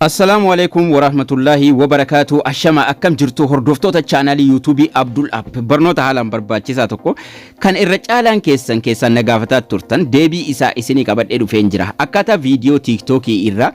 Assalaamu Aleeykum Waraahmatullaahi Wabarakaatuh Ashama akkam jirtu hordoftoota chaanaalii yuutuubii Abdul App barnoota haalaan barbaachisaa tokko kan irra caalaan keessan keessaan na gaafataa turtan deebii isaa isinii qabadhee dhufeen jira akkaataa viidiyoo tiiktookii irraa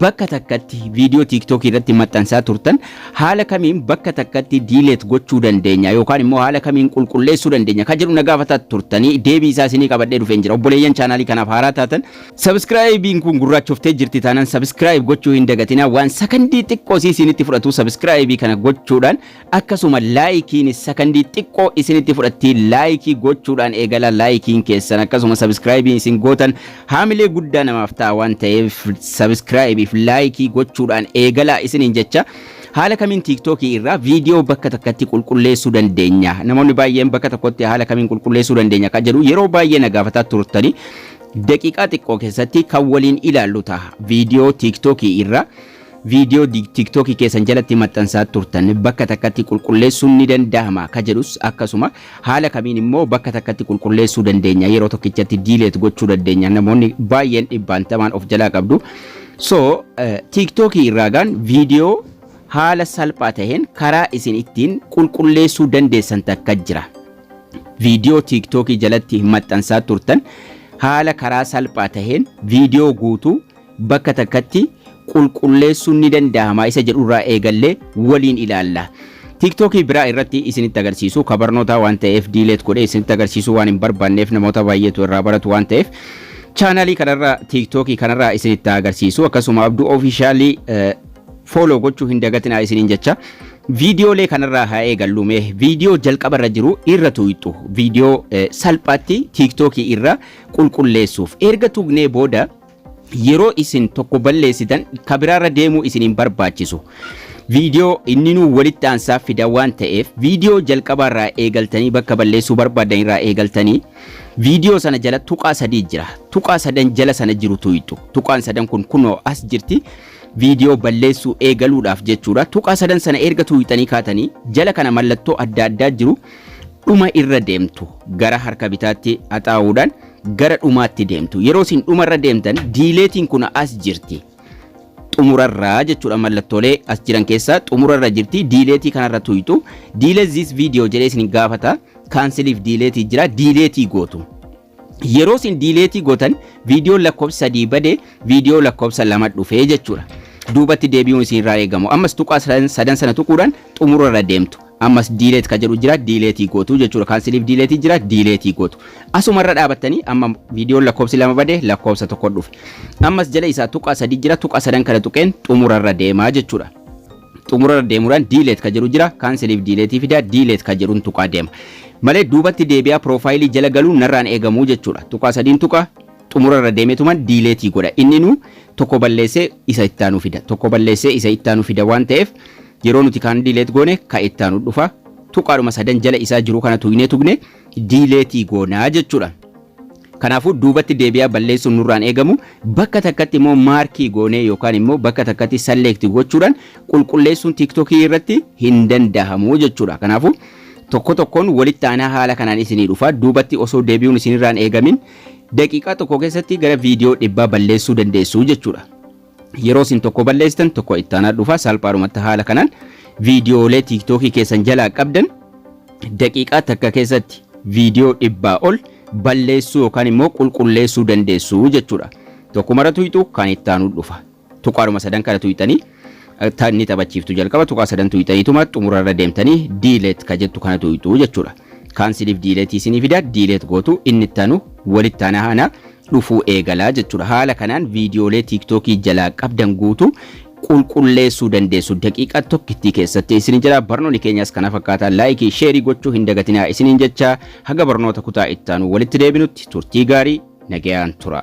bakka takkatti viidiyoo tiiktookii irratti maxxansaa turtan haala kamiin bakka takkatti diileet gochuu dandeenya yookaan immoo haala kamiin qulqulleessuu dandeenya kan jedhu na gaafataa turtanii deebii isaa isinii qabadhee dhufeen jira obboleeyyan chaanaalii kanaaf haaraa taatan Subscribing kun gurraachoftee jirti taanaan subscribe gochuu hin dagatinaa waan sakandii xiqqoo isii isinitti fudhatu subscribe kana gochuudhaan akkasuma laayikiin sakandii xiqqoo isinitti fudhatti laayikii gochuudhaan eegala laayikiin keessan akkasuma subscribing isin gootan haamilee guddaa namaaf ta'a waan ta'eef subscribe fi laayikii gochuudhaan eegala isiniin jecha haala kamiin tiiktookii irraa viidiyoo bakka takkatti qulqulleessuu dandeenya namoonni baay'een bakka tokkotti haala kamiin qulqulleessuu dandeenya kan jedhu yeroo baay'ee na gaafataa turtanii Daqiiqaa xiqqoo keessatti kan waliin ilaallu taha. Viidiyoo tiiktookii irra viidiyoo di- tiiktookii keessan jalatti maxxansaa turtan bakka takkatti qulqulleessuun ni danda'ama ka jedhus akkasuma haala kamiin immoo bakka takkatti qulqulleessuu dandeenya yeroo tokkichatti diileet gochuu dandeenya namoonni baay'een dhibbaantamaan of jalaa qabdu. So eh, tiiktookii irraa gaan viidiyoo haala salphaa taheen karaa isin ittiin qulqulleessuu dandeessan takka jira. viidiyoo tiiktookii jalatti maxxansaa turtan haala karaa salphaa taheen viidiyoo guutuu bakka takkatti qulqulleessuun ni danda'ama isa jedhurraa eegallee waliin ilaalla. Tiiktookii biraa irratti isinitti agarsiisu ka barnootaa waan ta'eef diileet godhee isinitti agarsiisuu waan hin barbaanneef namoota baay'eetu irraa baratu waan ta'eef chaanaalii kanarraa tiiktookii kanarraa isinitti agarsiisu akkasuma abduu ofiishaalii follow gochuu hin dagatinaa isiniin jecha viidiyoolee kanarraa haa eegallu mee viidiyoo jalqaba irra jiru irra tuqxu viidiyoo eh, salphaatti tiiktookii irra qulqulleessuuf erga tuqnee booda yeroo isin tokko balleessitan ka biraarra deemuu isin hin barbaachisu. Viidiyoo inni nuu walitti aansaa fida waan ta'eef viidiyoo jalqabaarraa eegaltanii bakka balleessuu barbaadan irraa eegaltanii viidiyoo sana jala tuqaa sadii jira. Tuqaa sadan jala sana jiru tuqxu. Tuqaan sadan kun kunoo as jirti. Viidiyoo balleessuu eegaluudhaaf jechuudha. Tuqaa sadan sana erga tuuyxanii kaatanii jala kana mallattoo adda addaa jiru dhuma irra deemtu. Gara harka bitaatti haxaa'uudhaan gara dhumaatti deemtu. Yeroo isin dhuma irra deemtan diileetiin kun as jirti. Xumurarraa jechuudha mallattoolee as jiran keessaa xumurarra jirti. Diileetii kanarra tuuyxu. Diileet zis viidiyoo jedhee isin gaafata. Kaansiliif diileetii jira. Diileetii gootu. Yeroo isin diileetii gootan viidiyoon lakkoofsa sadii bade viidiyoo lakkoofsa lama dhufee jechuudha. Duubatti deebi'uun isin irraa eegamu. Ammas tuqaa sadan sana tuquudhaan xumura irra deemtu. Ammas diileet kan jedhu jira diileetii gootu jechuudha. Kaansiliif diileetii jira diileetii gootu. Asuma irra dhaabattanii amma viidiyoon lakkoofsi lama bade lakkoofsa tokko dhufe. Ammas jala isaa tuqaa sadii jira tuqaa sadan kana tuqeen xumura irra deemaa jechuudha. xumurarra deemuudhaan delete ka jedhu jira canceliif delete fida delete ka jedhun tuqaa deema malee duubatti deebi'aa piroofaayilii jala galuun narraan eegamu jechuudha tuqaa sadiin tuqa xumurarra deemetuman delete godha inninu tokko balleessee isa ittaanu fida tokko balleessee isa ittaanu fida waan ta'eef yeroo nuti kaan delete goone ka ittaanu dhufa tuqaadhuma sadan jala isaa jiru kana tuqnee tuqne delete goonaa jechuudha. Kanaafuu duubatti deebi'aa balleessuun nurraan eegamu bakka takkatti immoo maarkii goonee yookaan immoo bakka takkatti salleekti gochuudhaan qulqulleessuun tiiktokii irratti hin dandahamu jechuudha. Kanaafuu tokko tokkoon walitti aanaa haala kanaan isinii dhufa duubatti osoo deebi'uun isinirraan eegamin daqiiqaa tokko keessatti gara viidiyoo dhibbaa balleessuu dandeessu jechuudha. Yeroo isin tokko balleessitan tokko itti aanaa dhufa salphaadhumatti haala kanaan viidiyoolee tiiktookii keessan jalaa qabdan daqiiqaa takka keessatti viidiyoo dhibbaa ol balleessuu yookaan immoo qulqulleessuu dandeessu jechuudha. Tokko mara tuyxu kan itti aanuu dhufa. Tuqaadhuma sadan kana tuyxanii ni taphachiiftu jalqaba tuqaa sadan tuyxaniituma xumurarra deemtanii diileet ka jettu kana tuyxu jechuudha. Kaansiliif diileetii isinii fida diileet gootu inni itti aanu walitti aanaa aanaa dhufuu eegala jechuudha. Haala kanaan viidiyoolee tiiktookii jalaa qabdan guutuu qulqulleessuu dandeessu daqiiqaa tokkittii keessatti isin jira barnoonni keenyas kana fakkaataa laayikii sheerii gochuu hin dagatinaa isiniin jecha haga barnoota kutaa ittaanu walitti deebinutti turtii gaarii nagayaan tura.